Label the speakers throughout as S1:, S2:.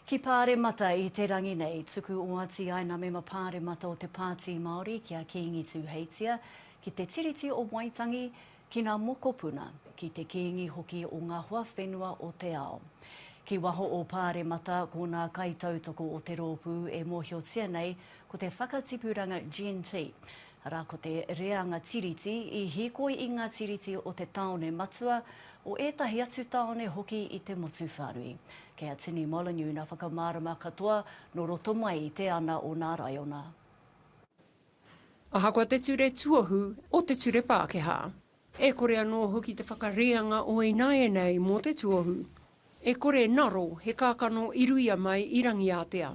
S1: Ki Pāremata i te rangi nei, tuku oati ai nā mema Pāremata o te Pāti Māori ki a Kīngi Tūheitia, ki te Tiriti o Waitangi, ki nā mokopuna, ki te Kīngi hoki o ngā hoa whenua o te ao. Ki waho o Pāremata, ko nā kaitautoko o te rōpū e mōhiotia nei ko te Whakatipuranga Gentee, Arā ko te reanga tiriti i hīkoi i ngā tiriti o te tāone matua, o ētahi atu tāone hoki i te motu whānui. Kei a Tini Molyneux nā whakamārama katoa nō roto mai i te ana o nā raiona.
S2: Ahakoa te ture tuohu o te ture Pākehā, e kore anō hoki te whakareanga o ināianei mō te tuohu, e kore naro he kākano i ruia mai i Rangiātea.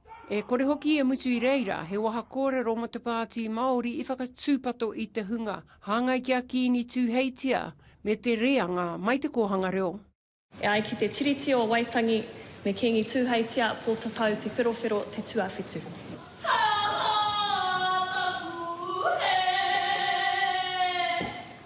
S2: E kore hoki e mutu i reira he waha kōrero mō te Pāti Māori i whakatūpato i te hunga hāngai ki a Kiini Tūheitia me te reanga mai Te Kōhanga Reo. E ai ki te
S3: Tiriti o Waitangi, me Kiingi Tūheitia, Pōtatau, Te Wherowhero, Te Tuawhitu. Ka mā taku hē.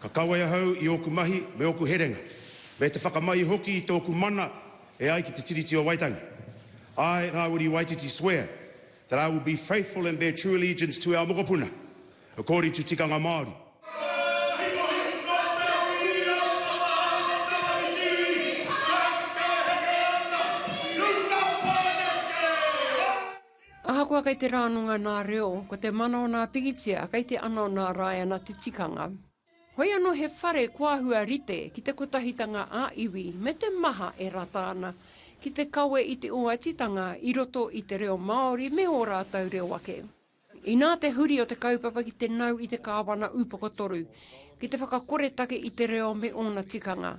S2: Ka
S4: kawe ahau i ōku mahi me ōku herenga, me te whakamai hoki i tōku mana e ai ki Te Tiriti o Waitangi. Āe rāwiri Waititi swear that I will be faithful and bear true allegiance to our mokopuna according to tikanga Māori.
S2: Ahakoa kei te rānonga nā reo, ko te mana o nā pikitia kei te ana o nā rāiana te tikanga. Hoi anō he whare kua hua rite ki te kotahitanga ā iwi me te maha e rata ana ki te kawe i te oatitanga i roto i te reo Māori me ō rātou reo ake. Inā te huri o te kaupapa ki te nau i te Kāwana Ūpokotoru ki te whakakoretake i te reo me ōna tikanga,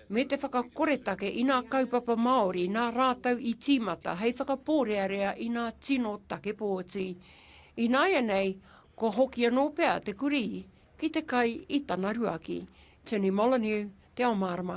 S2: me te whakakoretake i nā kaupapa Māori nā rātou i tīmata hei whakapōrearea i nā tino take pōti. Ināianei, kua hoki anō pea te kurī ki te kai i tana ruaki. Tini Molyneux, Te Ao Mārama.